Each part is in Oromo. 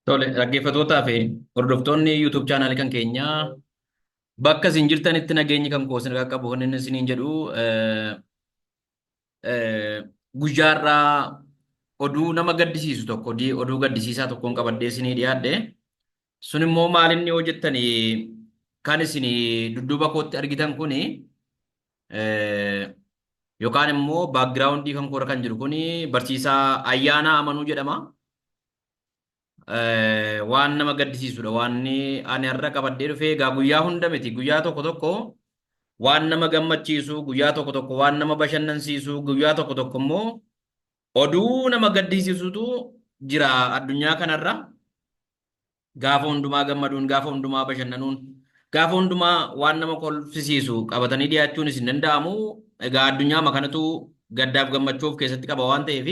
Tole, dhaggeeffatootaa fi hordoftoonni YouTube channel kan keenyaa bakka isin jirtanitti nageenyi kan koo isin qaqqabu kan inni isiniin jedhu eh, eh, guyyaarraa oduu nama gaddisiisu tokko di- oduu gaddisiisaa tokkoon qabadhee isinii dhiyaadhe Sun immoo maal inni yoo jettan kan isin dudduuba kootti argitan kun yookaan immoo baakgiraawundii kan koora kan jiru kun barsiisaa ayyaanaa amanuu jedhama. Waan nama gaddisiisudha. Waan ani har'a qabadhee dhufee egaa guyyaa hunda miti. Guyyaa tokko tokko waan nama gammachiisu, guyyaa tokko tokko waan nama bashannansiisu, guyyaa tokko tokko immoo oduu nama gaddisiisutu jira addunyaa kanarra. Gaafa hundumaa gammaduun, gaafa hundumaa bashannanuun, gaafa hundumaa waan nama kolfisiisu qabatanii dhiyaachuunis hin danda'amu. Egaa addunyaama kanatu gaddaaf gammachuu of keessatti qaba waan ta'eef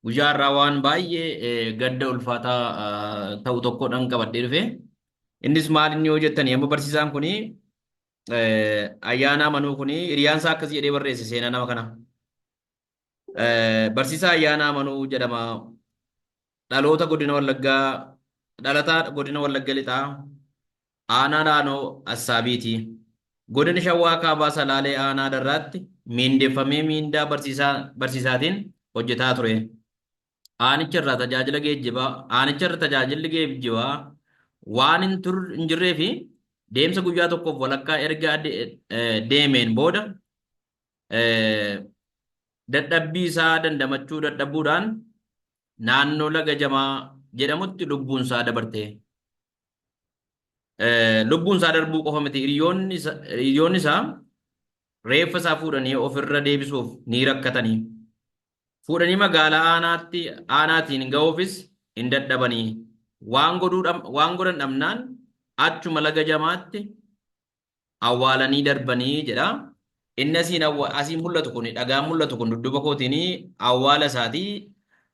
guyyaa har'aa waan baay'ee eh, gadda ulfaataa ah, ta'u tokkodhaan qabadhee dhufe. Innis maal inni yoo jettanii amma barsiisaan kuni eh, ayyaanaa manuu kuni hiriyaan isaa akkas jedhee barreesse seenaa nama kana. Barsiisaa Ayyaanaa Amanuu jedhama. Dhaloota Godina Wallaggaa Dhalataa Godina Wallagga Lixaa Aanaa Laanoo Assaabiiti. Godina Shawaa Kaabaa Salaalee Aanaa Darraatti miindeffamee miindaa barsiisaa barsiisaatiin hojjetaa ture. Aanicha irraa tajaajila geejjibaa aanicha irra tajaajilli geejjibaa waan hin tur hin jirree fi deemsa guyyaa tokkoof walakkaa erga ade- eh, deemeen booda dadhabbii isaa dandamachuu dadhabuudhaan naannoo laga jamaa jedhamutti lubbuun isaa dabarte. Lubbuun isaa darbuu qofa miti hiriyoonni isaa reeffa isaa fuudhanii ofirra deebisuuf ni rakkatanii. Fuudhanii magaalaa aanaatti aanaatiin ga'uufis hin dadhabanii. Waan godhan dhabnaan achuma laga jamaatti awwaalanii darbanii jedha. Inni asiin awwa- asiin mul'atu kun dhagaan mul'atu kun dudduuba kootiin awwaala isaati.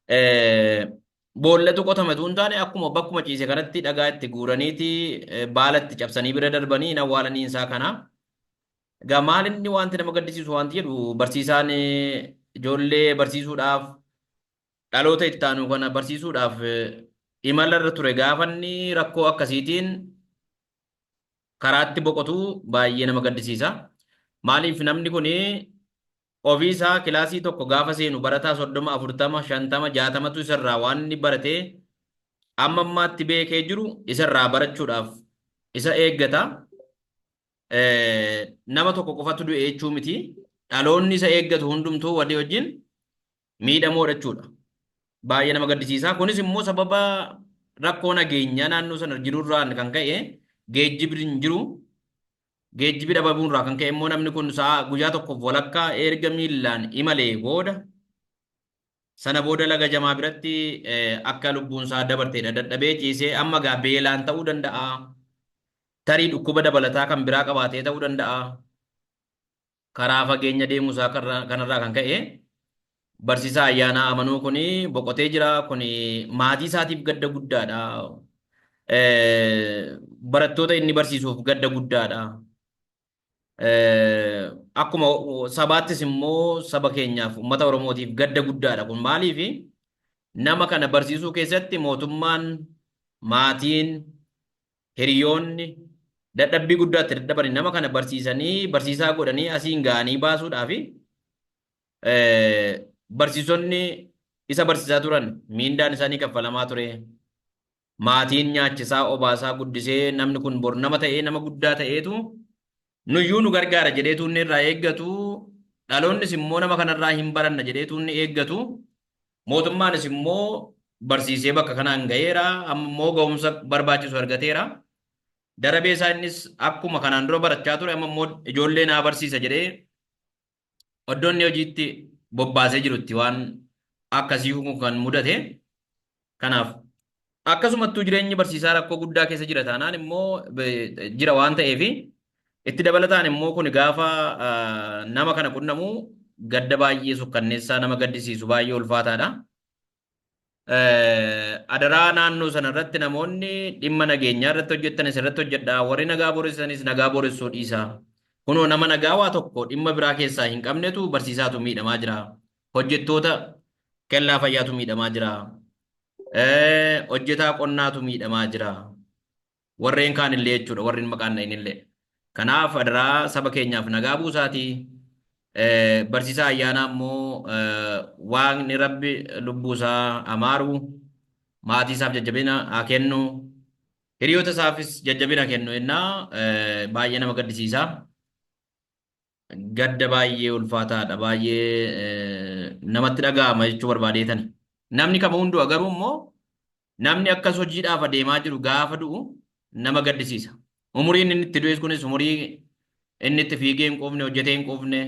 Eh, Boollatu qotame utuu hin taane akkuma bakkuma ciise kanatti dhagaa itti guuraniiti eh, baala itti cabsanii bira darbanii hin awwaalanii isaa kana. Egaa maal inni wanti nama gaddisiisu wanti jedhu barsiisaan eh, ijoollee barsiisuudhaaf dhaloota itti aanu kana barsiisuudhaaf eh, imala irra ture gaafanni rakkoo akkasiitiin karaatti boqotu baay'ee nama gaddisiisa. Maaliif namni kun ofii isaa kilaasii tokko gaafa seenu barataa soddoma, afurtama, shantama, jaatamatu isarraa waan inni baratee amma ammaatti beekee jiru isarraa barachuudhaaf isa eeggata. Nama tokko qofatu du'e jechuu miti. Dhaloonni isa eeggatu hundumtuu walii wajjin miidhamoodha jechuudha. Baay'ee nama gaddisiisa. Kunis immoo sababa rakkoo nageenyaa naannoo sana jirurraan kan ka'e geejjibni hin jiru. Geejjibi dhabamuurraa kan ka'e immoo namni kun sa'a guyyaa tokkoof walakkaa erga miillaan imalee booda sana booda laga jamaa biratti akka lubbuun isaa dabarteedha dadhabee ciisee amma gaa beelaan ta'uu danda'a. Tarii dhukkuba dabalataa kan biraa qabaatee ta'uu danda'a. Karaa fageenya deemuu isaa karra- kanarraa kan ka'e barsiisaa Ayyaanaa Amanuu kun boqotee jira. Kun maatii isaatiif gadda guddaadha. Eh, Barattoota inni barsiisuuf gadda guddaadha. Eh, Akkuma sabaattis immoo saba keenyaaf uummata Oromootiif gadda guddaadha. Kun maaliif nama kana barsiisuu keessatti mootummaan, maatiin, hiriyoonni dadhabbii guddaa itti dadhabani nama kana barsiisanii barsiisaa godhanii asiin ga'anii baasuudhaafi barsiisonni isa barsiisaa turan miindaan isaanii kaffalamaa ture. Maatiin nyaachisaa obaasaa guddisee namni kun bor nama ta'ee nama guddaa ta'eetu nuyyuu nu gargaara jedheetu inni irraa eeggatu dhaloonnis immoo nama kanarraa hin baranna jedheetu inni eeggatu Mootummaanis immoo barsiisee bakka kanaan ga'eera, amma immoo ga'umsa barbaachisu argateera. Darabee isaa innis akkuma kanaan dura barachaa ture amma immoo ijoollee naa barsiisa jedhee oddoo inni hojiitti bobbaasee jirutti waan akkasii kun kan mudate. Kanaaf Akkasumattuu jireenyi barsiisaa rakkoo guddaa keessa jira taanaan immoo jira waan ta'eef itti dabalataan immoo kun gaafa nama kana qunnamu gadda baay'ee sukkanneessaa nama gaddisiisu baay'ee ulfaataadha. Adaraa naannoo sana irratti namoonni dhimma nageenyaa irratti hojjettanis irratti hojjedhaa warri nagaa booressanis nagaa booressuu dhiisaa. Kunoo nama nagaa waa tokko dhimma biraa keessaa hin qabnetu barsiisaatu miidhamaa jira. Hojjettoota kellaa fayyaatu miidhamaa jira. Hojjetaa qonnaatu miidhamaa jira. Warreen kaan illee jechuudha warreen maqaan dha'in illee. Kanaaf adaraa saba keenyaaf nagaa buusaati. Barsiisaa ayyaanaa immoo waaqni rabbi lubbuu isaa amaaru maatii isaaf jajjabina haa kennu. Hiriyoota isaafis jajjabina kennu jennaa baay'ee nama gaddisiisa. Gadda baay'ee ulfaataadha. Baay'ee namatti dhaga'ama jechuu barbaadeetani. Namni kama hunduu garuu immoo namni akkas hojiidhaaf adeemaa jiru gaafa du'u nama gaddisiisa. Umuriin inni itti du'es kunis umurii inni itti fiigee hin quufne, hojjetee hin quufne,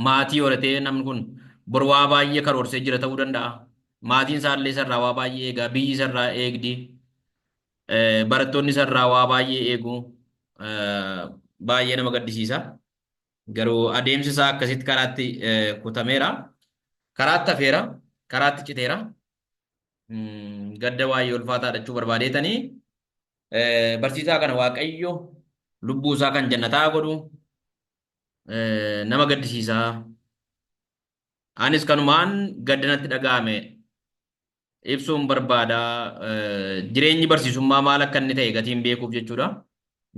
maatii horatee namni kun bor waa baay'ee karoorsee jira ta'uu danda'a. Maatiin isaallee isarraa waa baay'ee eegaa, biyyi isarraa eegdi. Barattoonni isarraa waa baay'ee eegu. Baay'ee nama gaddisiisa. Garuu adeemsi isaa akkasitti karaatti kutameera. Karaatti hafeera. Karaatti citeera. Gadda baay'ee ulfaataa dhachuu barbaadeetanii barsiisaa kana Waaqayyo lubbuu isaa kan jannataa godhu nama gaddisiisa. Anis kanumaan gadda natti dhaga'ame ibsuun barbaada. Jireenyi barsiisummaa maal akka inni ta'e gatiin beekuuf jechuudha.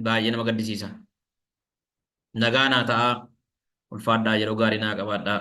Baay'ee nama gaddisiisa. Nagaa naa ta'aa. Ulfaadhaa yeroo gaarii naa qabaadhaa.